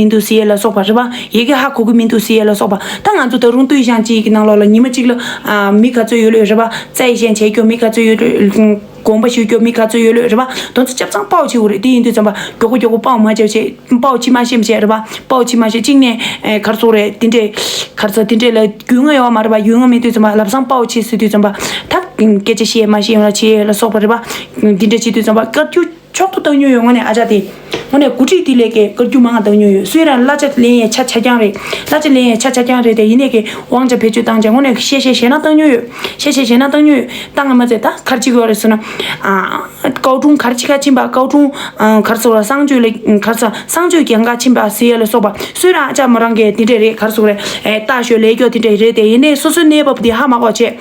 མིན་འདུག་སི་ཨེ་ལ་སོགས་པ་རེད་པ། ཡི་གེ་ཧ་གོ་གི་མིན་འདུག་སི་ཨེ་ལ་སོགས་པ། ད་ང་ཚོ་ད་རུང་ཏུའི་ཞང་གཅིག་གི་ནང་ལོགས་ལ་ཉི་མ་གཅིག་ལ། མི་ག་ཚོད་ཡོད་ལོས་རེད་པ། རྩ་ཡི་ཞན་ཆད་སྐྱོ་མི་ག་ཚོད་ཡོད། དགོངས་པ་ཞུ་སྐྱོ་མི་ག་ཚོད་ཡོད་ལོས་རེད་པ། དོན་ཚོ་སྐྱབས་ཚང་དཔའ་བོ་ཆེ་བོ་རེད་དེ་ཡིན་དུས་འཇམ་པ་མགྱོགས་པོ་མགྱོགས་པོ་དཔའ་བོ་མ་བྱས་བྱས་དཔའ་བོ་ཕྱི་མ་ཤེས་མ་ཤེས་རེད་པ། དཔའ་བོ་ཕྱི་མ་ཤེས་གཅིག་ནས་གར་སོང་རེད་དེ་འདྲས། གར་ས་དེ་འདྲས་ལ་རྒྱུས་མངའ་ཡོད་བ་མ་རེད་པ་རྒྱུས་མངའ་མེད་དུས་འཇམ་པ་ལབ་བཟང་དཔའ་བོ་ཆེ་ཟེར་དུས་འཇམ་པ། ཐབས་སྐད་ཆ་བཤད་མ་ཤེས་ཡོང་ལ་བྱས་ལ་སོགས་པ་རེད་པ། དེ་འདྲས་བྱས་དུས་འཇམ་པ་དཀར་རྒྱུ། མཆོག་ཏུ་བཏང་ཉོན་ཡོད་ངོ་ནས་ཨ་ཅག་དེ། ངོ་ནས་གུ་དྲིས་ཏི་ལེ་ཀའི་ཀར་རྒྱུ་མ་ང་བཏང་ཉོན་ཡོད་སུའི་རང་བླ་ཆ་ལེན་ཡའི་ཆ་ཆ་རྐྱང་རེད་བླ་ཆ་ལེན་ཡའི་ཆ་ཆ་རྐྱང་རེད་དེ་ཡིན་ནས་ཀའི་དབང་ཆ་བེད་སྤྱོད་བཏང་བྱས་ངོ་ནས་ཤེས་བྱས་བྱས་ན་བཏང་ཉོན་ཡོད་ཤེས་བྱས་བྱས་ན་བཏང་ཉོན་ཡོད་བཏང་ང་མ་ཚད་ད་གར་གཅིག་ཡོག་རེད་ཟུར་ན། ཀའོ་ཀྲུང་གར་གཅིག་ཁ་ཆིན་པ་ཀའོ་ཀྲུང་གར་ཟུར་བ་གསང་སྤྱོད་ལས་གར་ཟ་གསང་སྤྱོད་ཀྱང་ཁ་ཆིན་པ་ཟེར་ཡ་ལ་སོགས་པ་སུའི་རང་ཨ་ཅག་མོ་རང་གི་དེ་འདྲས་རེད་གར་ཟུར་རེད་ལྟ་ཞོད་ལས་ཀྱོག་དེ་འདྲས་རེད་དེ་ཡིན་ནས་སོ་སོའི་གནས་བབ་དེ་ཧ་མ་གོ་བྱས།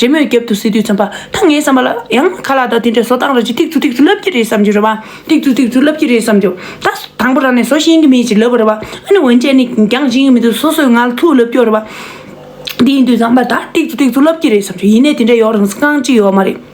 རེས་མོས་རྒྱབ་ཏུ་སེ་དུས་ཙམ་པ་ད་ངའི་བསམ་པ་ལ་ཡང་ཁ་ལག་དང་དེ་འདྲའི་བཟོ་སྟངས་ར་ཅིག་ཐིག་ཚུ་ཐིག་ཚུ་ལབ་ཀྱི་རེད་བསམ་རྒྱུ་རེད་བ། ཐིག་ཚུ་ཐིག་ཚུ་ལབ་ཀྱི་རེད་བསམ་རྒྱུ། ད་དང་པོ་རང་ནས་བཟོ་ཤེས་ཀྱི་མེད་ཅེས་ལབ་པ་རེད་བ། ཨ་ནི་འོན་ཅན་ནི་འགྱངས་བཞིན་ཡོད་མི་འདུག་སོ་སོས་ང་ལ་ཐུག་ལབ་ཀྱི་རེད་བ། དེ་ཡིན་དུས་ཙམ་པ་ད་ཐིག་ཚུ་ཐིག་ཚུ་ལབ་ཀྱི་རེད་བསམ་རྒྱུ་ཡིན་ནའི་དེ་འདྲའི་ཡོག་རང་སངས་ཀྱི་ཡོག་མ་རེད།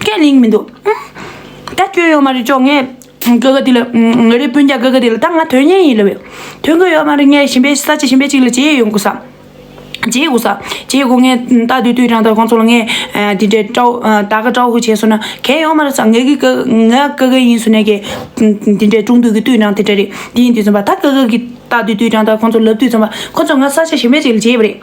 སྐད་གླེང་མི་འདུག་ད་སྐྱོན་ཡོད་མ་རེད་ཅོག་ངས་སྐད་ག་དེ་ལ་ང་རའི་སྤུན་རྒྱག་སྐད་ག་དེ་ལ་ད་ང་དོན་གཉེར་ཡིན་ལབ་ཡོད་དོན་ག་ཡོད་མ་རེད་ངས་ཞིམ་པའི་ས་ཆ་ཞིམ་པའི་ཅིག་ལ་བྱེད་ཡས་ཡོང་དགོས་སམ། བྱེད་དགོས་སམ་བྱེད་དགོས་ངས་ད་དུས་དུས་རང་ད་གོང་ཚོ་ལ་ངས་དེ་འདྲའི་དྲའོ་ད་ག་དྲའོ་ཧུ་བྱས་སོང་ན་གལ་ཡོང་མ་རེད་སམ་ངས་གི་གི་ང་སྐད་ག་ཡིན་སུ་ནས་གི་དེ་འདྲའི་ཀྲུང་དུས་གི་དུས་རང་དེ་འདྲ་རེད་དེ་ཡིན་དུས་ཚོམ་པ་ད་སྐད་ག་གི་ད་དུས་དུས་རང་ད་གོང་ཚོ་ལབ་དུས་ཚོམ་པ་ཁོ་ཚོ་ང་ས་ཆ་ཞིམ་པའི་ཅིག་ལ་བྱེད་ཡས་པ་རེད།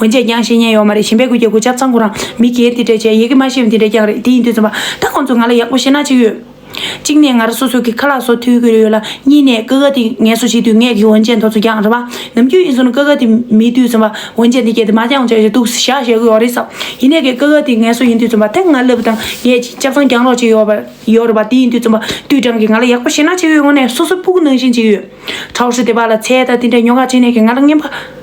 འོན་ཅེས་ཀྱང་བཤད་ཉན་ཡོད་མ་རེད་ཞིང་པའི་གུས་ཀྱི་གུས་ཆབ་ཚང་གུ་རང་མི་རྒན་དེ་འདྲས་བྱས་ཡི་གེ་མ་ཤེས་པ་འདི་འདྲས་ཀྱང་རེད་དེ་ཡིན་དུས་རྩོམ་པ་ད་ཁོང་ཚོས་ང་ལ་ཡག་པོ་བཤད་ན་ཅིག་ཡོད། གཅིག་ནས་ང་ར་སོ་སོ་གི་ཁ་ལག་སོ་ཐུལ་གི་ཡོད་ལ་གཉིས་ནས་ཀི་ཀ་དེ་ངལ་གསོ་བྱེད་དུས་ངས་གི་འོན་ཅེས་མཐོ་ཚོ་ཀྱང་རེད་བ། ནམ་རྒྱུན་ཡིན་ཟུང་ཀི་ཀ་དེ་མེད་དུས་རྩོམ་པ་འོན་ཅེས་འདི་སྐད་དེ་མ་ཀྱང་བྱས་ཀྱི་འདུག་བཞག་བཞེས་གི་ཡོད་རེད་བསམ། ཡིན་ནས་གི་ཀི་ཀ་དེ་ངལ་གསོ་ཡིན་དུས་རྩོམ་པ་ཐེངས་ལྔ་ལབ་དང་ངས་གཅིག་ཆབ་ཚང་གྱང་རོགས་བྱས་ཡོད་ཡོད་རེད་བ་དེ་ཡིན་དུས་རྩོམ་པ་དུས་དྲང་གི་ང་ལ་ཡག་པོ་བཤད་ན་ཅིག་ཡོད་ངོ་ནས་སོ་སོ་སྤུ་གུ་ནང་བཞིན་ཅིག་ཡོད། ཁྲའོ་ཧྲི་དེ་བ་ལ་ཚེ་ད་དེ་འདྲས་ཉོ་ག་བྱས་ནས་གི་ང་ལ་རྔན་པ།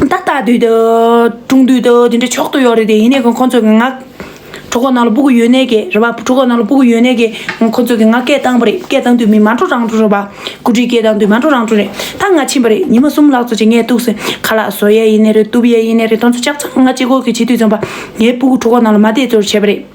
ད་ལྟ་དུས་དེ་ཀྲུང་དུས་དེ་འདྲའི་མཆོག་ཏུ་ཡོད་རེད་དེ་ཡིན་ནའི་ཁོང་ཚོས་ངག་གྲོགས་ཁོ་ན་ལ་སྤུ་གུ་ཡོད་ནའི་གེ་རེད་པ་གྲོགས་ཁོ་ན་ལ་སྤུ་གུ་ཡོད་ནའི་གེ་ཁོང་ཚོས་ངག་སྐད་བཏང་པ་རེད་སྐད་བཏང་དུས་མི་མ་འགྲོ་རང་འགྲོ་རེད་པ་གུ་དྲིའི་སྐད་བཏང་དུས་མ་འགྲོ་རང་འགྲོ་རེད་ད་ང་ཕྱིན་པ་རེད་ཉི་མ་གསུམ་ལག་འཚོ་བྱེད་ངས་གཏུགས་ཟིན་ཁ་ལག་བཟོ་ཡས་ཡིན་ནའི་རེད་གཏུབ་ཡས་ཡིན་ནའི་རེད་དོན་ཚོ་ལྕགས་ཚང་ང་ལྕེ་སྒོར་གྱི་བྱེད་དུས་ཚོམ་པ་ངའི་སྤུ་གུ་གྲོགས་ཁོ་ན་ལ་མ་བསྡད་ཚོར་བྱས་པ་རེད།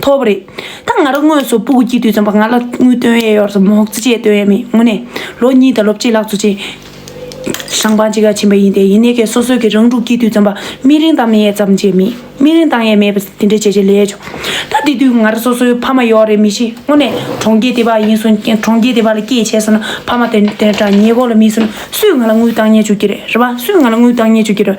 ཐོབ་པ་རེད་ད་ང་རང་དངོས་སུ་སྤུ་གུ་སྐྱིད་དུས་རྩོམ་པ་ང་ལ་དངུལ་བཏོན་ཡས་ཡོར་སོ་མོག་ཙེ་བཅས་བཏོན་ཡས་མེད་དངོས་གནས་ལོ་གཉིས་དང་ལོ་བཅས་ལག་འཚོ་བྱས་ཞང་པང་གཅིག་ག་ཕྱིན་པ་ཡིན་ཏེ་ཡིན་ནའི་ཁའི་སོ་སོས་ཀྱི་རང་ཕྲུག་སྐྱིད་དུས་རྩོམ་པ་སྨིན་རིང་བཏང་མེད་ཡས་ཙམ་བྱས་མེད་སྨིན་རིང་བཏང་ཡས་མེད་པ་དེ་འདྲའི་བྱས་བྱས་ལས་བྱུང་ད་དེ་དུས་ང་རང་སོ་སོའི་ཕ་མ་ཡོག་རེད་མི་ཤེས་དངོས་གནས་གྲོང་ཁྱེར་དེ་བ་ཡིན་སོང་གྲོང་ཁྱེར་དེ་བ་ལ་སྐྱེས་བྱས་སོང་ན་ཕ་མ་དེ་འདྲ་ཉེ་འཁོར་ལ་མིན་སོང་ན་སུས་ང་ལ་དངུལ་བཏང་ཉས་བཅུག་གྱི་རེད་རེད་བ་སུས་ང་ལ་དངུལ་བཏང་ཉས་བཅུག་གྱི་རེད་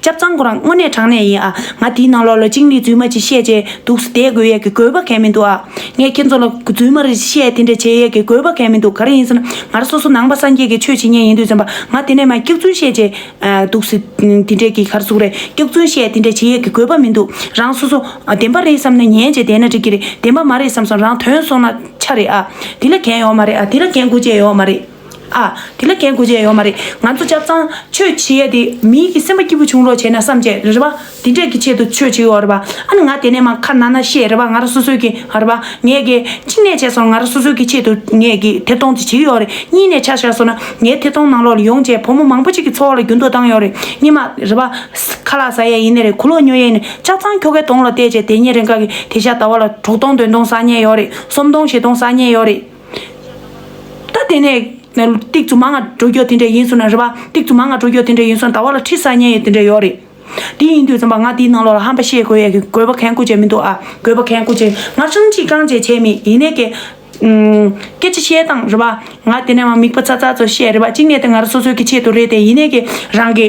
སྐྱབས་ཚང་ཁོ་རང་དངོས་གནས་དྲང་གནས་ཡིན་ཨ། ང་དེའི་ནང་ལོགས་ལ་ཅིང་ལིས་རྫུན་མ་ཅིག་བཤད་ཀྱི་འདུག་སུ་དེས་དགོས་ཡས་ཀྱི་དགོས་པ་གལ་མི་འདུག་ཨ། ངས་ཁྱེད་ཚོ་ལ་རྫུན་མ་རེ་བཤད་དེ་འདྲ་བྱེད་ཡས་ཀྱི་དགོས་པ་གལ་མི་འདུག་ག་རེ་ཡིན་ཟེར་ན་ང་ར་སོ་སོ་ནང་པ་སངས་རྒྱས་ཀྱི་ཆོས་བྱེད་ཉེན་ཡིན་དུས་ཟེར་པ་ང་དེ་ནས་མ་སྐྱག་རྫུན་བཤད་ཀྱི་འདུག་སུ་དེ་འདྲས་ཀྱི་ག་རེ་ཟུག་རེད་སྐྱག་རྫུན་བཤད་དེ་འདྲས་བྱེད་ཡས་ཀྱི་དགོས་པ་མི་འདུག་རང་སོ་སོ་བདེན་པ་རེད་བསམ་ན་ཉན་བྱེད་བདེན་ན་འགྲིག་གི་རེད་བདེན་པ་མ་རེད་བསམ་སོང་རང་དོན་སོང་ན་ཆ་རེད་ཨ། དེ་ལ་གན་ཡོག་མ་རེད་ཨ་དེ་ལ་གན་དགོས་ཅེས་ཡོག་མ་རེད། ཨ། དེ་ལ་གལ་དགོས་ཅན་ཡོད་མ་རེད། ང་ཚོ་སྐྱབས་ཚང། ཆོས་བྱེད་ཡས་དེ། མིའི་གི་སེམས་པ་སྐྱིད་པོ་བྱུང་རོགས་བྱས་ན་བསམ་བྱས། རེད་པ། དེ་འདྲས་གི་ཆེད་དུ་ཆོས་བྱེད་ཡོག་རེད་པ། ཨ་ནི་ང་དེ་ནས་མ་ཁ་ན་ན་ཤེས་རེད་པ་ང་ར་སོ་སོའི་གི། རེད་པ། ངས་གི། གཅིག་ནས་བྱས་སོང་ང་ར་སོ་སོའི་གི་ཆེད་དུ་ངས་གི་ཐེ་གཏོང་དེ་བྱེད་གི་ཡོག་རེད་གཉིས་ནས་ཆ་བཞག་སོང་ན་ངའི་ཐེ་གཏོང་ནང་ལོག་ལ་ཡོང་བྱས་བུ་མོ་མང་པོ་གཅིག་གི་འཚོ་བ་ལ་རྒྱུན་དུ་བཏང་ཡོག་རེད་གཉིས་མ། རེད་པ། ཁ་ལག་ཟ་ཡས་ཡིན་ནི་རེད་གུ་ལོག་ཉོ་ཡས་ནི་སྐྱབས་ཚང་ཁྱོ་གས་དོང་ལ་བལྟས་བྱས་དེ་ཉིན་རེ་འགའ་གི་དེ་ཤ་ད་བ་ལ་དྲུག་སྟོང་བདུན་སྟོང་ཟག་ཉེས་ཡོག་རེད་གསུམ་སྟོང་བཞི་སྟོང་ཟག་ཉེས་ཡོག་རེད། ད་དེ་ནས་ཏིག་ཙུ་མ་ང་འགྲོ་རྒྱུ་དེ་འདྲས་ཡིན་ཟུར་ན་རེད་པ་ཏིག་ཙུ་མ་ང་འགྲོ་རྒྱུ་དེ་འདྲས་ཡིན་ཟུར་ན་ད་བར་ལ་ཁྲི་ས་ཉེ་ཡས་དེ་འདྲས་ཡོད་རེད་དེ་ཡིན་དུས་ཙམ་པ་ང་དེའི་ནང་ལོག་ལ་ཧམ་པ་བཤད་དགོས་ཡས་གི་དགོས་པ་གན་གོ་བྱས་མི་འདུག་ཨ་དགོས་པ་གན་གོ་བྱས་ང་ཧྲང་གཅིག་རྐང་བྱས་བྱས་མེད་ཡིན་ནས་ཀྱེ། སྐད་ཆ་བཤད་སྟངས་རེད་པ་ང་དེ་ནས་མ་མིག་པ་ཚ་ཚ་ཚོ་བཤད་རེད་པ་གཅིག་ནས་དེ་ང་ར་སོ་སོའི་གི་ཆེད་དུ་རེད་དེ་ཡིན་ནས་ཀྱེ་རང་གི།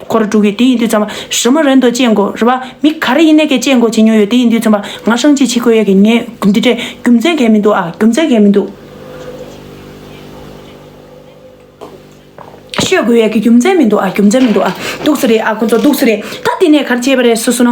ཁོ་ར་དྲུག་གིས་དེ་ཡིན་དུས་ཙམ་རི་མོ་རེད་འདོད་ཅེས་མགོ་རུལ་བ་མི་ག་རེ་ཡིན་ནས་ཀྱིས་ཅེས་མགོ་བྱེད་མྱོང་ཡོད་དེ་ཡིན་དུས་ཙམ་པ་ང་ཧྲང་ཅིག་བྱེད་དགོས་ཡས་ཀྱིས་ངས་འདི་འདྲས་རྒྱུ་མཚན་གས་མི་འདུག་ཨ་རྒྱུ་མཚན་གས་མི་འདུག། ཤོད་དགོས་ཡས་ཀྱིས་རྒྱུ་མཚན་མི་འདུག་ཨ་རྒྱུ་མཚན་མི་འདུག་ཨ། སྡུག་ས་རེད་ཨ་ཁོ་ཚོ་སྡུག་ས་རེད་ད་འདི་ནས་ག་རེ་བྱས་པ་རེད་སུ་སུ་ན།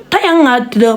ད་ཡང་ང་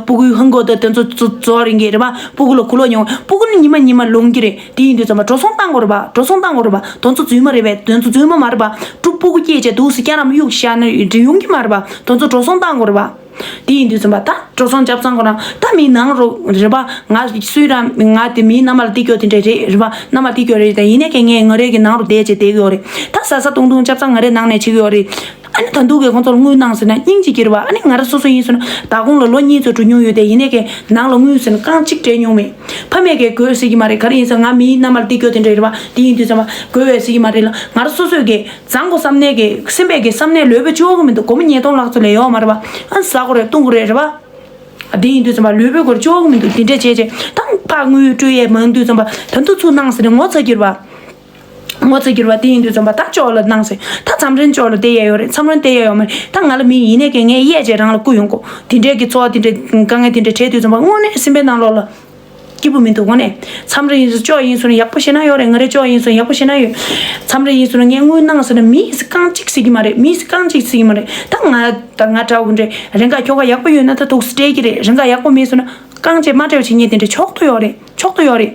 སྤུ་གུའི་ཧིན་སྒོར་དུ་དེ་ཚོ་བཙོ་བ་རིན་གྱི་རེད་པ་སྤུ་གུ་ལ་གོ་ལོག་ཉོ་སྤུ་གུ་ནི་ཉི་མ་ཉི་མ་ལོངས་ཀྱི་རེད་དེ་ཡིན་དུས་ཚང་མ་འགྲོ་སོང་བཏང་དགོས་རེད་པ་འགྲོ་སོང་བཏང་དགོས་རེད་པ་དོན་ཚོ་རྫུན་མ་རེད་པས་དོན་ཚོ་རྫུན་མ་མ་རེད་པ་དྲུག་སྤུ་གུ་སྐྱེས་བཅས་དུག་སེ་སྐྱ་རམ་དབྱུག་ཤ་ནི་འབྲི་ཡོང་གི་མ་རེད་པ་དོན་ཚོ་འགྲོ་སོང་བཏང་དགོས་རེད་པ་དེ་ཡིན་དུས་ཚང་མ་ད་འགྲོ་སོང་བརྒྱབ་ཙང་དགོས་ན་ད་མི་ནང་རོགས་རེད་པ་ང་སུའི་ར་ང་དེ་མིའི་མནའ་མ་ལ་བསྟི་གྱོ་དེ་འདྲས་རེད་རེད་པ་མནའ་མ་བསྟི་གྱོ་རེད་ཡིན་ནས་ཀྱང་ངས་ངོས་རེ་གི་ནང་རུ་བསྡད་ཅེས་བསྡད་གྱོ་རེད་ད་ཟ་ཟ་བཏུང་བཏུང་བརྒྱབ་ཙང་ངོས་རེ་ནང་ནས་བྱེད་གྱོ་རེད། ཨ་ནི་ད་འདུག་གི་ཁོང་ཚོ་ལ་དངུལ་གནང་ཟེར་ན་སྙིང་གཅིག་གྱིར་བ་ཨ་ནི་ང་རང་སོ་སོ་ཡིན་ཟེར་ན་ད་གོང་ལ་ལོ་གཉིས་ཚོད་དྲུག་ཉུང་ཡོད་དེ་ཡིན་ནའི་ཀའི་ནང་ལ་དངུལ་ཟེར་ན་རྐང་གཅིག་སྤྲད་མྱོང་མེད་ཕ་མས་ཀའི་དགོས་ཟེར་གྱི་མ་རེད་ག་རེ་ཡིན་ཟེར་ང་མིའི་མནའ་མར་འདི་དགོས་དེ་འདྲ་ཡིར་བ་འདི་ཡིན་དུས་ཟེར་བ་དགོས་བས་ཟེར་གྱི་མ་རེད་ལ་ང་རང་སོ་སོས་ཀའི་བཟང་གོ་བསམ་ནའི་ཀའི་སེམས་པས་ཀའི་བསམ་ནས་ལོས་བོད་ཆོག་གི་མི་འདུག་སྒོར་མོ་ཉེས་སྟོང་ལྷག་ཚོད་ལས་ཡོག་མ་རེད་བ་ཨ་ནི་ཟ་གོ་རེད་བཏུང་གོ་རེད་རེད་བ། འདི་ཡིན་དུས་ཟེར་བ་ལོས་བོད་སྒོར་ཆོག་གི་མི་འདུག་འདི་འདྲ་བྱས་བྱས་ད་ཕག་དངུལ་སྤྲོད་ཡས་མང་དུས་ཟེར་བ་ད་འདུག་ཚུར་གནང་ཟེར་ནས་ངོ་ཚ་གྱིར་བ། ངོ་ཚ་གྱུར་བ་དེ་ཡིན་དུས་རྩོམ་པ་ད་ཅོག་ལ་གནང་ཟེར་ད་མཚམས་རེ་མཆོག་ལ་དེ་ཡས་ཡོད་རེད་མཚམས་རེ་དེ་ཡས་ཡོད་མ་རེད་ད་ང་ལ་མིན་ཡིན་ནའི་ཀྱེ་ངས་གཡས་བཅད་རང་ལ་བསྐུར་ཡོང་གོ་དེ་འདྲས་ཀྱི་ཚོགས་དེ་འདྲས་དཀའ་ངལ་དེ་འདྲས་བྲལ་དུས་རྩོམ་པ་དངོས་གནས་སེམས་པའི་ནང་ལོགས་ལ་སྐྱིད་པོ་མི་འདུག་ངོ་ནས་མཚམས་རེ་ཡིན་ཟེར་ཅོག་ཡིན་ཟེར་ན་ཡག་པོ་བཤད་ན་ཡོད་རེད་ང་རེ་ཅོག་ཡིན་ཟེར་ན་ཡག་པོ་བཤད་ན་ཡོད་མཚམས་རེ་ཡིན་ཟེར་ན་ངས་དངུལ་གནང་ཟེར་ན་མི་ཡིས་རྐང་གཅིག་ཟེར་གྱི་མ་རེད་མི་ཡིས་རྐང་གཅིག་ཟེར་གྱི་མ་རེད་ད་ང་ད་ང་འདྲ་བོ་འདྲས་རེ་འགའ་ཁྱོ་ག་ཡག་པོ་ཡོད་ན་ད་དུག་སེལ་སྤྲད་ཀྱི་རེད་རེ་འགའ་ཡག་པོ་མེད་ཟེར་ན་རྐང་རྗེས་མ་བྲལ་བ་བྱེད་ངེས་དེ་འདྲས་མཆོག་ཏུ་ཡོད་རེད་མཆོག་ཏུ་ཡོད་རེད།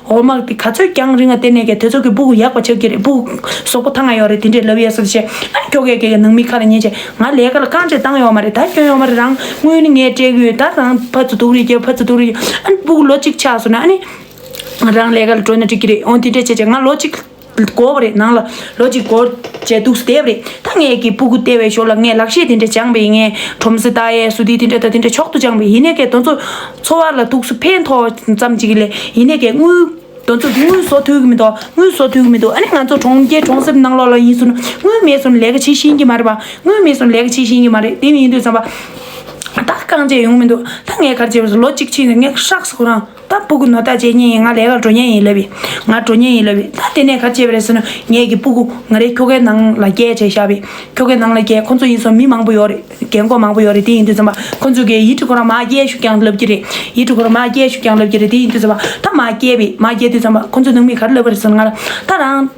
འོ་དམག་དེ་ག་ཚོད་ཀྱང་རིང་བ་དེ་ནས་ཀྱང་དེ་ཚོ་གི་སྦུ་གུ་ཡག་པ་ཆགས་ཀྱི་རེད་སྦུ་གུསོག་པོ་ཐ་ང་ཡོག་རེད་དེ་འདྲའི་ལབ་ཡས་སོ་ཞེས་ཨ་ཁྱོ་གས་ཀྱི་ནང་མི་ཁ་ལ་ཉན་བྱས་ང་ལས་ཀ་ལ་རྐང་རྗེས་བཏང་ཡོག་མ་རེད་ད་གྱོན་ཡོག་མ་རེད་རང་དངུལ་ནི་ངས་སྤྲད་གི་ཡོད་ད་རང་ཕ་ཚོ་སྡུག་རེད་ཀྱི་ཕ་ཚོ་སྡུག་རེད་ཀྱི་ཨ་ནི་སྦུ་གུ་ལོ་གཅིག་ཆགས་སོང་ན་ཨ་ནི་རང་ལས་ཀ་ལ་བྲོས་ན་འགྲིག་གི་རེད་འོང་དེ་འདྲས་བྱས་བྱས་ང་ལོ་གཅིག་སྒོར་རེ་ནང་ལ་ལོ་གཅིག་སྒོར་བརྒྱད་དུག་སེལ་བ་རེད་ད་ངས་ཀྱི་སྤུ་གུ་ལྟེ་བའི་ཞོར་ལ་ངས་ལག་ཤེས་དེ་འདྲ་སྦྱངས་པས་ངས་ཁྲོམ་ཟེ་རྟ་ཡས་སུ་དེ་དེ་འདྲ་ད་དེ་འདྲ་མཆོག་ཏུ་སྦྱངས་པས་ཡིན་ནའི་ཀའི་དོན་ཚོ་འཚོ་བ་ལ་དུག་སུ་ཕན་ཐོག་ཙམ་ཅིག་ལས་ཡིན་ནའི་ཀའི་དངུལ་དོན་ཚོ་དངུལ་བཟོ་ཐུབ་ཀྱི་མི་འདུག་དངུལ་བཟོ་ཐུབ་ཀྱི་མི་འདུག་ཨ་ནི་ང་ཚོ་གྲོང་ཁྱེར་གྲོང་གསེབ་ནང་ལོགས་ལ་ཡིན་ཟུར་ན་དངུལ་མེད་ཟུར་ན་ལས་ཀ་བྱེད་བཞིན་གྱི་མ་རེད་པ་དངུལ་མེད་ཟུར་ན་ལས་ཀ་བྱེད་བཞིན་གྱི་མ་རེད་དེ་མིན་དུས་བསམ་པ་ད་རྐང་རྗེས་ཡོང་མི་འདུག་ད་ངས་གར་བྱས་པ་ལོ་གཅིག་ཕྱིན་ནས་ངས་ཧྲག་སོང་རང་ད་སྤུ་གུ་ནོར་ད་བྱས་ཉེས་ཡིན་ང་ལས་ཀར་འགྲོ་ཉེས་ཡིན་ལབ་ཡིན་ང་འགྲོ་ཉེས་ཡིན་ལབ་ཡིན་ད་དེ་ནས་ག་བྱས་པ་རེད་ཟེར་ན་ངེད་ཀྱི་སྤུ་གུ་ང་རེ་ཁྱོ་གའི་ནང་ལ་བསྐྱལ་བྱས་ཞབས་པས་ཁྱོ་གའི་ནང་ལ་བསྐྱལ་ཁོ་ཚོ་ཡིན་སོང་མི་མང་པོ་ཡོད་རེད་རྒན་རྒོན་མང་པོ་ཡོད་རེད་དེ་ཡིན་དུས་ཟེར་མ་ཁོ་ཚོས་ཀྱི་ཡིད་ཁྲི་ཁོ་རང་མ་བསྐྱལ་ཞུགས་ཀྱང་ལབ་ཀྱི་རེད་ཡིད་ཁྲི་ཁོ་རང་མ་བསྐྱལ་ཞུགས་ཀྱང་ལབ་ཀྱི་རེད་དེ་ཡིན་དུས་ཟེར་མ་ད་མ་བསྐྱལ་བས་མ་བསྐྱལ་དུས་ཟེར་མ་ཁོ་ཚོས་ནང་མི་ག་རེ་ལབ་པ་རེད་ཟེར་ན་ང་རང་ད་རང།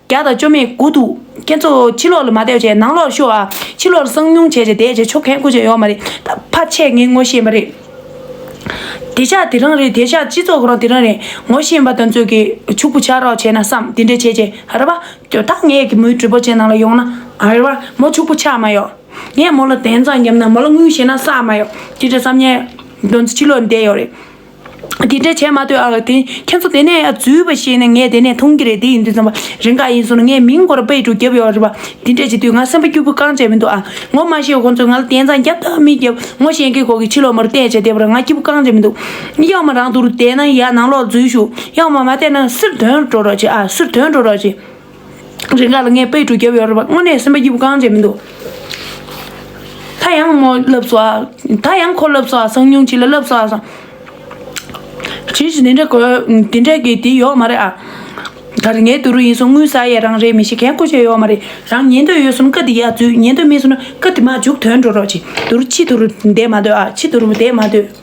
བརྒྱ་དང་བཅོ་མེད་དགུ་འདུག་ཁྱེད་ཚོ་ཕྱི་ལོག་ལ་མ་བསྡད་བྱས་ནང་ལོག་ཤོག་ཨ། ཕྱི་ལོག་ལ་གསང་སྙུང་བྱས་བྱས་བསྡད་བྱས་ཆོག་གན་ཁུ་བྱས་ཡོག་མ་རེད་ད་ཕ་ཆད་ངས་ངོ་ཤེས་མ་རེད། དེ་ཤག་དེ་རང་རེད་དེ་ཤག་སྤྱི་ཚོགས་རང་དེ་རང་རེད་ངོ་ཤེས་མ་ད་ཚོད་ཀྱི་ཕྱུག་པོ་ཆགས་རོགས་བྱས་ན་བསམ་དེ་འདྲས་བྱས་བྱས་རེད་པ་དོ་ད་ངས་ཀྱི་མོའི་གྲོད་པོ་ཅན་ནང་ལ་ཡོང་ན་རེད་པ་མོ་ཕྱུག་པོ་ཆགས་མ་ཡོག་ངས་མོ་ལ་དན་ཙང་བརྒྱབ་ན་མོ་ལ་དངུལ་བཞེས་ན་བསགས་མ་ཡོག་དེ་འདྲས་བསམ་ཉན་དོན་ཚོ་ཕྱི་ལོག་ལ་བསྡད་ཡོག་རེད། དེ་འདྲ་བྱས་མ་ཐོས་ཨ་དེ་ཁྱེད་ཚོ་དེ་ནས་རྫུས་པ་ཤེས་ནས་ངས་དེ་ནས་མཐོང་གི་རེད་དེ་ཡིན་དུས་བསམ་པ་རེ་འགའ་ཡིན་སོང་ན་ངས་མིང་གོ་ར་པས་འགྲོ་རྒྱབ་ཡོད་རེད་བ་དེ་འདྲ་བྱེད་དུས་ང་སེམས་པ་སྐྱུར་པོ་རྐང་བཅད་མི་འདུག་ཨ་ངོ་མ་ཤེས་ཁོང་ཚོས་ང་ལ་དེང་སང་རྒྱབ་དང་མི་རྒྱབ་ངོ་ཤེས་མཁན་ཁོག་གི་ཕྱི་ལོག་མ་རུ་བལྟས་བྱས་བལྟས་པར་ང་སྐྱུར་པོ་རྐང་བཅད་མི་འདུག་གཡག་མ་རང་དུ་རུ་བསྡད་ན་ཡག་ནང་ལོག་རྫུས་ཞུགས་གཡག་མ་མ་བསྡད་ན་སིར་དོན་འགྲོ་རོགས་བྱེད་ཨ་སིར་དོན་འགྲོ་རོགས་བྱེད་རིགས་ལ་ལ་ངའི་པའི་གྲུ་རྒྱབ་ཡོད་རེད་པ་དངོས་གནས་སེམས་པ་སྐྱིད་པོ་གང་བྱས་མི་འདུག། ད་ཡང་མོ་ལབ་སོ་ད་ཡང་ཁོ་ལབ་སོ་སང་ཉུང་ཅིག་ལ་ལབ་སོ་སང། ཇི་བཞིན་དེ་འདྲ་གོ་དེ་འདྲ་གི་དེ་ཡོག་མ་རེད་ཨ། ད་རེ་ངའི་དུ་རུ་ཡིན་སོང་དངུལ་ཟ་ཡས་རང་རེད་མི་ཤེས་གན་ཁོ་བྱས་ཡོག་མ་རེད་རང་ཉན་འདོད་ཡོད་སོང་ཀ་དེ་ཡག་རྫུས་ཉན་འདོད་མེད་སོང་ན་ཀ་དེ་མ་འཇུག་དོན་འགྲོ་རོགས་ཅིག་དུ་རུ་ཕྱི་དུ་རུ་བསྡད་མ་འདོད་ཨ་ཕྱི་དུ་རུ་བསྡད་མ་འདོད།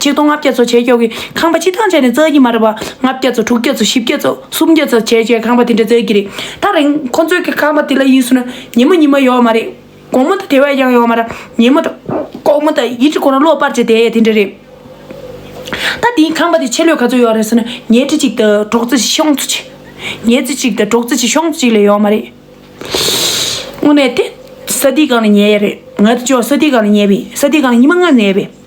ཆིག་སྟོང་ལྔ་བརྒྱ་ཚོ་བྱེད་ཆོག་གི། ཁང་པ་སྤྱི་ཐང་བྱས་ནས་བཙལ་གྱི་མ་རེད་པ། ལྔ་བརྒྱ་ཚོ་དྲུག་བརྒྱ་ཚོ་བཞི་བརྒྱ་ཚོ་སུམ་བརྒྱ་ཚོ་བྱས་བྱས་ཁང་པ་དེ་འདྲ་བཙལ་གྱི་རེད། ད་རིང་ཁོ་ཚོས་ཀྱི་ཁང་པ་དེ་ལ་ཡིན་ཟུར་ན་ཉིན་མོ་ཉིན་མོ་ཡོད་མ་རེད། དགོང་མོ་དང་དེ་བས་ཀྱང་ཡོད་མ་ར། ཉིན་མོ་དང་དགོང་མོ་དང་ཡིད་ཀྱི་ཁོ་རང་གློག་སྤར་བྱས་དེ་ཡས་དེ་འདྲ་རེད། ད་དེའི་ཁང་པ་དེ་ཕྱེ་ལོས་ག་ཚོད་ཡོད་རེད་ཟེར་ན་ཉལ་ཁྲི་གཅིག་དང་གྲོག་རྩེ་ཤོང་ཚོ་གཅིག། ཉལ་རྩེ་གཅིག་དང་གྲོག་རྩེ་གཅིག་ཤོང་ཚོ་གཅིག་ལས་ཡོད་མ་རེད། དངོས་གནས་དེ། ས་དེའི་སྒང་ལ་ཉལ་ཡས་རེད། ང་ཚོ་ཅོག་ས་དེའི་སྒང་ལ་ཉལ་བས་ས་དེའི་སྒང་ལ་ཉི་མ་ལྔ་ཉལ་བས།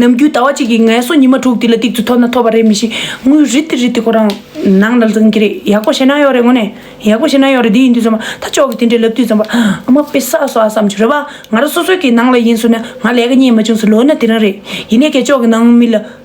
ནམ་རྒྱུན་ཟླ་བ་གཅིག་གིས་ངལ་གསོ་ཉི་མ་དྲུག་དེ་ལ་གཏིག་ཏུ་ཐོབ་ན་ཐོབ་པ་རེད་མི་ཤེས་དངུལ་རི་ཏི་རི་ཏི་ཁོ་རང་ནང་ལ་འཛིང་གི་རེད་ཡག་པོ་བྱེད་ན་ཡོག་རེད་ངོ་ནས་ཡག་པོ་བྱེད་ན་ཡོག་རེད་འདི་ཡིན་དུས་ཙམ་པ་ད་ཅོག་གི་དེ་འདྲའི་ལབ་དུས་ཙམ་པ་ཨ་མ་དཔེ་ས་སོ་ཨ་བསམ་བྱོས་རེད་བ་ང་རང་སོ་སོའི་གི་ནང་ལ་ཡིན་ཟུར་ན་ང་ལས་ཀ་རྙེད་མ་བྱུང་ཟུར་ལོ་ན་དེ་རང་རེད་ཡིན་ནས་ཀྱ་ཅོག་གི་ནང་མི་ལ་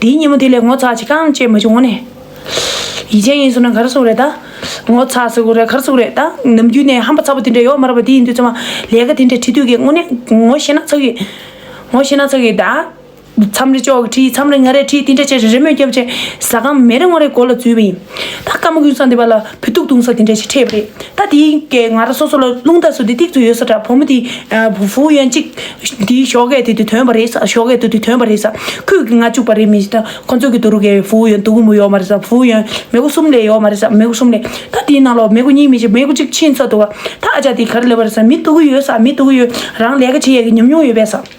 དེའི་ཉིན་མོ་དེ་ལས་ངོ་ཚ་ཅི་གང་བྱེད་མ་བྱུང་ངོ་ནི། ཡིད་ཅན་ཡིན་ཟུག་ན་གར་སོང་རེད་ད། ངོ་ཚ་ཟུག་རེད་གར་སོང་རེད་ད། ནམ་རྒྱུན་ནས་ཧམ་པ་ཚ་པོ་དེ་འདྲ་ཡོད་མ་རེད་པ་དེ་ཡིན་དུས་ཚང་མ་ལས་ཀ་དེ་འདྲ་བྲིས་དུས་ཀྱི་ངོ་ནི་ངོ་ཤེས་ན་ཚ་གི། ངོ་ཤེས་ན་ཚ་གི་ད། མཚམས་རེ་ཅོག་གི་བྲིས་མཚམས་རེ་ང་རེ་བྲིས་དེ་འདྲ་བྱས་རེ་རེ་མོས་རྒྱབ་བྱས་ཟ་ཁང་མེད་རེ་ངོ་རེ་སྒོ་ལ་འཛུལ་བ་ཡིན། ད་སྐར་མ་ཀུན་བཟང་འདི་པ་ལ་བུ་སྡུག་གདུང་སོགས་དེ་འདྲ་ཞིག་འཕྲད་ཡོད་པ་རེད། ད་དེའི་སྐད་ང་རང་སོ་སོ་ལ་རླུང་རྟ་སོགས་དེ་ཏིག་ཏུ་ཡོད་ས་འདྲ་བུ་མོ་དེའི་བུ་ཡན་ཅིག་འདིའི་ཞོགས་ཀས་དེ་དུས་དོན་པ་རེད་ས་ཞོགས་ཀས་དུ་དུས་དོན་པ་རེད་ས་ཁུད་ཀྱི་ང་བཅུག་པ་རེད་མི་ད་ཁོ་ཚོ་གི་དུ་རུ་ཀའི་བུ་ཡན་དུ་བུ་མོ་ཡོད་མ་རེད་ས་བུ་ཡན་མེ་གོ་གསུམ་ལས་ཡོད་མ་རེད་ས་མེ་གོ་གསུམ་ལས་ད་དེའི་ནང་ལོག་མེ་གོ་གཉིས་མི་ཤེས་མེ་གོ་གཅིག་ཕྱིན་ཚར་འདུག་བ་ད་ཨ་ཅག་དེ་ག་རེ་ལས་པ་རེད་ས་མི་སྡུག་གི་ཡོད་ས་མི་སྡུག་གི་ཡོད་རང་ལས་ཀ་བྱེད་ཡས་ཀྱི་ཉམས་མྱོང་ཡོད་པས་ས།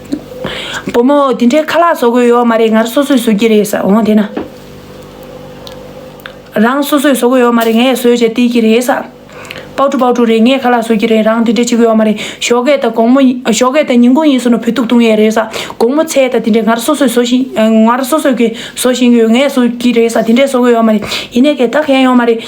བུ་མོ་དེ་འདྲའི་ཁ་ལག་བཟོ་དགོས་ཡོད་མ་རེད་ངར་སོ་སོས་བཟོ་གི་རེད་ཟེར་འོང་དེ་ན་རང་སོ་སོས་བཟོ་གི་ཡོད་མ་རེད་ངས་བཟོས་བྱས་སྟེར་གི་རེད་ཟེར་པའུ་ཀྲུ་པའུ་ཀྲུ་རེད་ངས་ཁ་ལག་བཟོ་གི་རེད་རང་དེ་འདྲས་བྱེད་གི་ཡོད་མ་རེད་ཞོགས་གས་ད་དགོང་མོ་ཞོགས་གས་ད་ཉིན་གུང་ཡིན་ཟེར་ནོ་བུ་སྟུག་བཏུང་ཡས་རེད་ཟེར་དགོང་མོ་ཚེས་ད་དེ་འདྲས་ངར་སོ་སོས་བཟོ་བཞིན་ངར་སོ་སོས་གིས་བཟོ་བཞིན་གི་ཡོད་ངས་བཟོ་གི་རེད་ཟེར་དེ་འདྲས་བཟོ་གི་ཡོད་མ་རེད་ཡིན་ནས་གས་ད་གས་ཡོང་མ་རེད་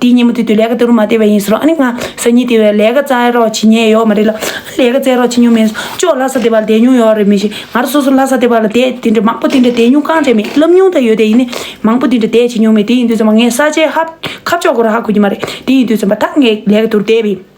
དེའི་ཉིན་མོ་དེ་དུས་ལས་ཀ་དེ་རུ་མ་བསྡད་པ་ཡིན་ཟེར་རོ་ཨ་ནི་ང་ཟ་ཉིན་དེ་བས་ལས་ཀ་བཙལ་རོགས་བྱེད་ཉེན་ཡོད་མ་རེད་ལ་ཨ་ལས་ཀ་བཙལ་རོགས་བྱེད་མྱོང་མེད་ཟེར་ཅོག་ལྷ་ས་སྡེ་བར་བསྡད་མྱོང་ཡོད་རེད་མི་ཤེས་ང་རང་སོ་སོ་ལྷ་ས་སྡེ་བར་ལ་བསྡད་དེ་འདྲ་མང་པོ་དེ་འདྲ་བསྡད་མྱོང་གང་དྲན་མེད་ལབ་མྱོང་ད་ཡོད་དེ་ཡིན་ནའི་མང་པོ་དེ་འདྲ་བསྡད་བྱེད་མྱོང་མེད་དེ་ཡིན་དུས་ཚང་མ་ངས་ས་ཆའི་ཧབ་ཁ་ཕྱོགས་སྒོར་ཧ་གོ་གི་མ་རེད་དེ་ཡིན་དུས་ཚང་མ་ཐག་ངས་ལས་ཀ་དུར་བསྡད་པའི།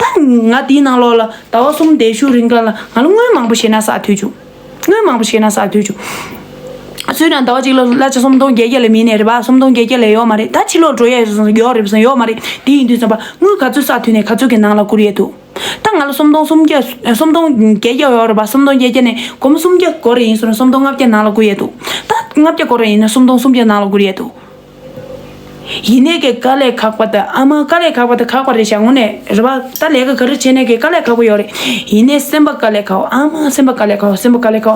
ད་ང་དེའི་ནང་ལོགས་ལ་ཟླ་བ་གསུམ་འདས་ཤུགས་རིང་ཀ་ལ་ང་ལ་དངུལ་མང་པོ་བཞེས་ན་ཟ་ཐུལ་བྱུང། དངུལ་མང་པོ་བཞེས་ན་ཟ་ཐུལ་བྱུང། སུས་ཀྱང་ཟླ་བ་གཅིག་ལ་གླ་ཆ་སུམ་སྟོང་བརྒྱད་བརྒྱ་ལས་མིན་ནས་རེད་པ་སུམ་སྟོང་བརྒྱད་བརྒྱ་ལས་ཡོག་མ་རེད་ད་ཕྱི་ལོགས་འགྲོ་ཡས་ཡོག་རེད་པ་སོང་ཡོག་མ་རེད་དེ་ཡིན་དུས་བསམ་པ་དངུལ་ག་ཚོད་ཟ་ཐུལ་ནས་ག་ཚོད་ཀྱི་ནང་ལ་བསྐུར་ཡས་འདུག་ད་ང་ལ་སུམ་སྟོང་སུམ་བརྒྱ་སུམ་སྟོང་བརྒྱད་བརྒྱ་ཡོག་རེད་པ་སུམ་སྟོང་བརྒྱད་བརྒྱ་ནས་སྒོར་མོ་སུམ་བརྒྱ་སྒོར་རེ་ཡིན་ཟེར་ན་སུམ་སྟོང་ལྔ་བརྒྱ་ནང་ལ་བསྐུར་ཡས་འདུག་ད་ལྔ་བརྒྱ་སྒོར་རེ་ཡིན་ན་སུམ་སྟོང་སུམ་བརྒྱ་ནང་ལ་བསྐུར་ཡས་འདུག་ཡིན་ནས་ཀྱི་ཀ་ལས་ཁག་པ་དང་ཨ་མ་ཀ་ལས་ཁག་པ་དང་ཁག་པ་རེད་བྱ་ངོ་ནས་རེད་བ་ད་ལས་ཀ་ག་རེ་བྱེད་ནས་ཀྱི་ཀ་ལས་ཁག་པོ་ཡོད་རེད་ཡིན་ནས་སེམས་པ་ཀ་ལས་ཁག་ཨ་མ་སེམས་པ་ཀ་ལས་ཁག་སེམས་པ་ཀ་ལས་ཁག་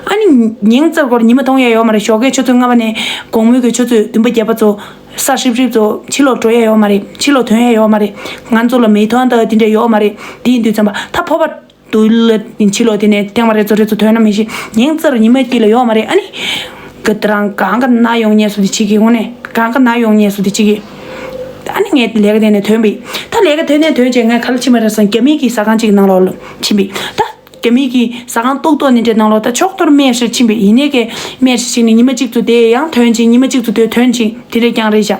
ཨ་ནི་ཉིང་རྩེར་སྐོར་ཉི་མ་མཐོང་ཡས་ཡོད་མ་རེད་ཞོགས་ཀའི་ཆུ་ཚོད་ལྔ་པ་ནས་དགོང་མོའི་ཀྱི་ཆུ་ཚོད་བདུན་པ་བརྒྱད་པ་ཚོ་ས་ཧྲིབ་ཧྲིབ་ཚོ་ཕྱི་ལོག་འགྲོ་ཡས་ཡོད་མ་རེད་ཕྱི་ལོག་ཐོན་ཡས་ཡོད་མ་རེད་ང་ཚོ་ལ་མི་ཐོན་ད་དེ་འདྲ་ཡོད་མ་རེད་དེ་ཡིན་དུས་ཚན་པ་ད་ཕོ་བ། དུ་ལ་ཕྱི་ལོ་དེ་ནས་ཐེངས་མ་རེ་ཚོ་རེ་ཚོ་ཐོན་ན་མི་ཤེས་ཉིན་རྩར་ཉི་མ་དཀྱིལ་ལ་ཡོང་བ་རེད་ཨ་ནི། གི་ད་རང་གང་གི་ན་ཡོང་ཉེས་སུ་དེ་ཅི་གི་ཧོ་ནེ་གང་གི་ན་ཡོང་ཉེས་སུ་དེ་ཅི་གི། ཨ་ནི་ངས་ལས་ཀ་དེ་ནས་ཐོན་པི་ད་ལས་ཀ་དེ་ནས་ཐོན་བྱས་ངས་ག་ལ་ཕྱི་མ་རེ་སོང་རྒྱ་མིག་གི་ཟ་ཁང་ཅིག་ནང་ལོག་ལ་ཕྱིན་པི་ད་རྒྱ་མིག་གི་ཟ་ཁང་ཏོག་ཏོག་ནི་དེ་ནང་ལོག་ད་ཕྱོགས་ཏོར་སྨན་བཞེར་ཕྱིན་པི་ཡིན་ནས་ཀའི་སྨན་བཞེར་ཕྱིན་ནི་ཉི་མ་གཅིག་ཚོ་དེ་ཡང་ཐོན་ཅིང་ཉི་མ་གཅིག་ཚོ་དེ་ཐོན་ཅིང་དེ་རེ་རྐྱང་རེ་བཞག།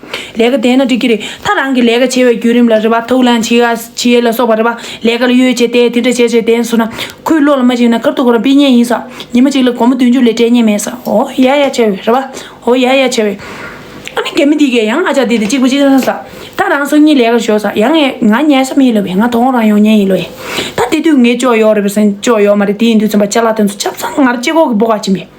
ལས་ཀ་དེས་ན་འགྲིག་གི་རེད་ད་རང་གི་ལས་ཀ་བྱེད་པའི་བརྒྱུད་རིམ་ལ་རེ་བ་ཐུགས་ལན་བྱེད་བྱེད་ལ་སོགས་པ་རེ་བ་ལས་ཀ་ལ་གཡོལ་བྱས་ཏེ་དེ་འདྲ་བྱས་བྱས་དེ་སོང་ན་ཁོའི་བློ་ལ་མ་གཅིག་ན་ཁར་ཐུག་གོ་ར་འབིད་ཉེན་ཡིན་ས་ཉིན་མ་གཅིག་ལ་སྒོར་མོ་བདུན་ཅུ་ལས་སྤྲད་ཉེན་མེད་ས་འོ་ཡ་ཡ་བྱས་བས་རེ་བ་འོ་ཡ་ཡ་བྱས་བས། ཨ་ནི་རྒན་མོ་འདི་གས་ཡང་ཨ་ཅག་འདི་དང་གཅིག་པུ་གཅིག་ན་ས་ད་རང་སོ་གཉིས་ལས་ཀར་ཞོག་ས་ཡ་ངས་ང་ཉལ་ས་མེད་ལོ་བས་ང་དོག་རང་ཡོང་ཉེན་ཡིན་ལོ་ཡས་ད་དེ་དུས་ངས་ཅོག་ཡོག་རེ་བས་སེང་ཅོག་ཡོག་མ་རེད་དེ་ཡིན་དུས་ཚོན་པ་ལྕགས་ལ་ཐོན་ཚོ་ཆབ་ཚང་ངར་ལྕེ་ཁོག་གི་སྦོ་ག་བྱིན་པས།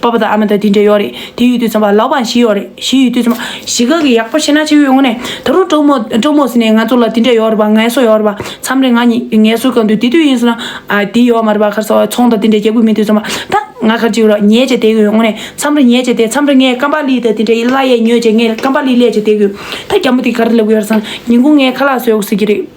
པ་པ་དང་ཨ་མ་དང་དེ་འདྲ་ཡོད་རེད་དེ་ཡོད་དུས་ཚང་པ་ལག་པ་བཞི་ཡོད་རེད་བཞི་ཡོད་དུས་ཚང་པ་བཞི་ག་གི་ཡག་པོ་ཤེས་ན་ཆེ་བའི་ངོ་ནས་ད་རུང་གྲོགས་མོ་གྲོགས་མོ་ཟེར་ནས་ང་ཚོ་ལ་དེ་འདྲ་ཡོད་རེད་པ་ངལ་གསོ་ཡོད་རེད་པ་མཚམས་རེ་ང་ཉིད་ངལ་གསོ་ག་འདུག་དེ་དུས་ཡིན་སོང་ན་དེ་ཡོད་མ་རེད་པ་ཁར་སོང་ཚོང་དང་དེ་འདྲ་རྒྱག་དགོས་མིན་དུས་ཚང་པ་ད་ང་ཁར་ཅིག་རོགས་ཉལ་བྱས་བསྡད་ཡོད་ངོ་ནས་མཚམས་རེ་ཉལ་བྱས་བསྡད་མཚམས་རེ་ངས་རྐང་པ་ལི་དང་དེ་འདྲ་ཡི་བརླ་ཡས་ཉོས་བྱས་ངས་རྐང་པ་ལི་བསླས་བྱས་བསྡད་ཡོད་ད་རྒྱ་མོ་དེ་ག་རེ་ལབ་གི་ཡོད་རེད་བསམ་ན་ཉིན་གུང་ངའི་ཁ་ལག་ཟོས་འོག་ཟེར་གྱི་རེད།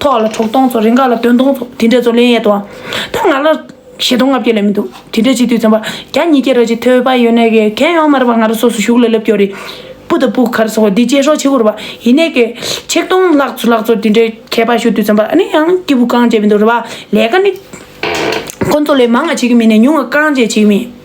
ཐོག་ལ་གྲོགས་སྟོང་ཚོ་རེ་འགའ་ལ་དོན་སྟོང་ཚོ་དེ་འདྲས་ཚོ་ལན་ཡད་དོ། ཐ་ང་ལ་ཞེ་སྟོང་ལྔ་བརྒྱ་ལས་མི་འདུག་དེ་འདྲས་ཅིག་དུས་ཚན་པ་གྱ་གཉིས་ཀྱི་ར་ཅིག་ཐོས་པ་ཡོད་ནའི་གས་གས་ཡོང་མ་རེ་བ་ང་ར་སོ་སོ་ཞུགས་ལ་སླེབས་ཀྱོ་རེ། པུ་ད་པུ་གར་སོ་འདི་བཅད་ཤོག་ཆི་ཁུར་བ་ཡིན་ནའི་གས་ཆིག་སྟོང་ལྷག་ཚོ་ལྷག་ཚོ་དེ་འདྲས་གས་པ་ཞུ་དུས་ཚན་པ་ཨ་ནི་ཡང་སྐྱིད་པོ་རྐང་བཅད་མི་འདུག་རེ་བ་ལས་ཀ་ནི་ཁོ་ཚོ་ལས་མང་ང་བྱེད་ཀྱི་མིན་ནས་ཉུང་ང་རྐང་བཅད་བྱེད་ཀྱི་མིན།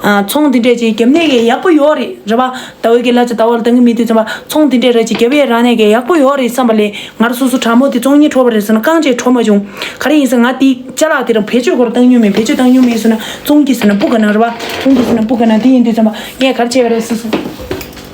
ཚོང་འདི་འདྲས་ཀྱིས་རྒྱབ་གནས་གས་ཡག་པོ་ཡོག་རེད་རེད་པ། ད་འོས་གས་ལ་ཅི་ད་བ་ལ་དང་གི་མི་དེ་ཚོ་བ་ཚོང་འདི་འདྲས་ར་ཅིག་རྒྱབ་ཡས་རང་གནས་གས་ཡག་པོ་ཡོག་རེད་བསམ་པ་ལས་ང་ར་སོ་སོ་དྲ་མོ་དེ་ཚོང་གཉིས་འཕྲོ་བ་རེད་ཟེར་ན་རྐང་བཅས་འཕྲོ་མ་བྱུང། ག་རེ་ཡིན་ཟེར་ང་དེ་ཅ་ལག་དེ་རང་བེད་སྤྱོད་གོ་ར་བཏང་མྱོང་མེད་བེད་སྤྱོད་བཏང་མྱོང་མེད་ཟེར་ན་ཚོང་གྱིས་ཟེར་ན་སྤུ་ག་ནང་རེད་བ། ཚོང་གྱིས་ཟེར་ན་སྤུ་ག་ནང་དེ་ཡིན་དུས་བསམ་པ་ངས་ག་ར་བྱས་པ་རེད་ཟེར་སོང།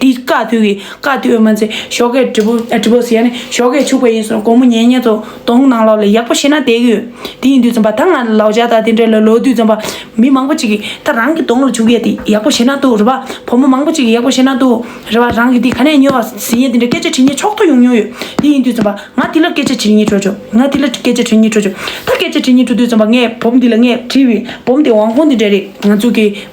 དེ་ཡི་བཀའ་བཏུ་གི་བཀའ་བཏུ་བའི་མ་ཚེ་ཞོགས་ཀའི་དྲི་བོ་དྲི་བོ་ཟེར་ཡ་ནི་ཞོགས་ཀའི་ཕྱུག་པ་ཡིན་སོང་དགོང་མོ་ཉལ་ཉལ་དུ་དོང་ནང་ལོག་ལ་ཡག་པོ་ཤེས་ན་བསྡད་ཀྱི་ཡོད་དེ་ཡིན་དུས་རྩོམ་པ་ད་ང་ལ་ལོག་བྱ་དང་དེ་འདྲ་ལ་ལོག་དུས་རྩོམ་པ་མི་མང་པོ་ཅིག་གི་ད་རང་གི་དོང་ལ་བྱུག་ཡ་དེ་ཡག་པོ་ཤེས་ན་འདུག་རེ་བ་བུ་མོ་མང་པོ་ཅིག་གི་ཡག་པོ་ཤེས་ན་འདུག་རེ་བ་རང་གི་དེ་ག་ནས་ཉོས་བ་ཟིན་ཡ་དེ་འདྲ་སྐད་ཆ་དྲི་ཉེས་ཕྱོགས་ཐོ་ཡོང་མྱོང་ཡོད་དེ་ཡིན་དུས་རྩོམ་པ་ང་དེ་ལ་སྐད་ཆ་དྲི་ཉེས་དྲོ་ཆོག་ང་དེ་ལ་སྐད་ཆ་དྲི་ཉེས་དྲོ་ཆོག་ད་སྐད་ཆ་དྲི་ཉེས་དྲོ་དུས་རྩོམ་པ་ངས་བུམ་འདི་ལ་ངས་བྲིས་བའི་བུམ་དེ་ཝང་ཧོང་དེ་འདྲ་རེད་ང་ཚོ་གི།